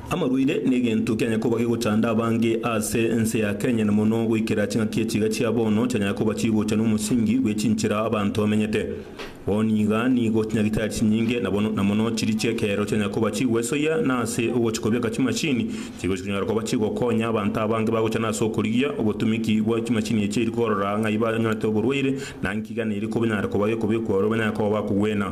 Amarwaire negento kianya koba gegochanda abange aase ense ya Kenya na mono goikera ching'aki echiga chia bono chianyare koba chigocha nomosingi bwe chinchera abanto bamenyete. Bono iga nigo chinyagitari chinyinge na bono na mono chiri chi'ekeero chianyare koba chigwesoyia na ase ogochi kobeka chimachini chigochi konyara koba chigokonya abanto abange bagochana ase okorigia obotumiki bwa chimachini echi eri korora ng'ai banywanete oborwaire na nki gana eri konyara koba gekobekwa ore banyare koba bakogwena.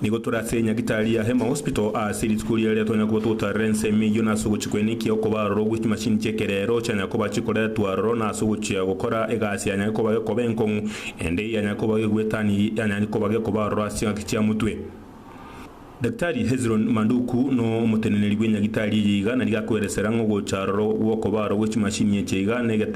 Nigo tore ase enyagitari ya Hema Hospital aase rituko riarire twanya koba togotarera ense emeyio nase ogochikwa eniki okoba aroro gwe chimachini chi'ekerero chianyare koba chikoretwa aroro nase ogochia gokora egasi yanyare koba gekoba enkong'u ende eyanyare koba gegwetani yanyare koba gekoba aroro ase chingaki chia motwe. Daktari Hezron Manduku no omoteneneri bw'enyagitari eye iga nari gakoeresera ng'ogocha aroro gwokoba aroro gwe chimachini eche iga negetang'ani.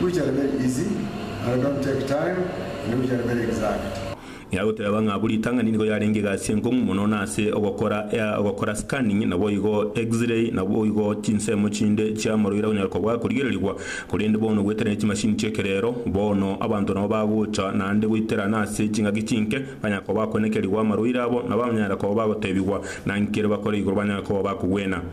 Which are very easy and don't take time and which are very exact. Ng'ea goteba ng'a buri ritang'ani nigo yarenge egasi enkong'u mono na ase ogokora ea ogokora scanning naboigo X-ray naboigo chinsemo chinde chia moroira onyare kobwa korigererigwa korende bono goetera ne chimashini chi'ekerero bono abanto nabo bagocha naende goitera nase chingaki chinke banyare koba bakoenekerigwa amaroira abo nabanyare koba bagotebigwa nankere bakore igoro banyare koba bakogwena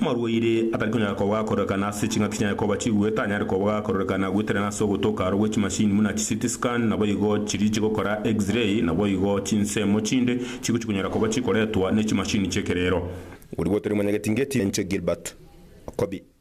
Omorwaire atari konyara kobua akorekana ase ching'aki chiaye koba chigwe tanyare kobua akorekana goeterana ase ogotoka aro gwe chimashini buna chiCT scan naboigo chiri chigokora X-ray naboigo chinsemo chinde chigochi konyara koba chikoretwa ne chimashini chi'ekerero. Oria gotari omonyageti ngeti inche Gilbert Okobi.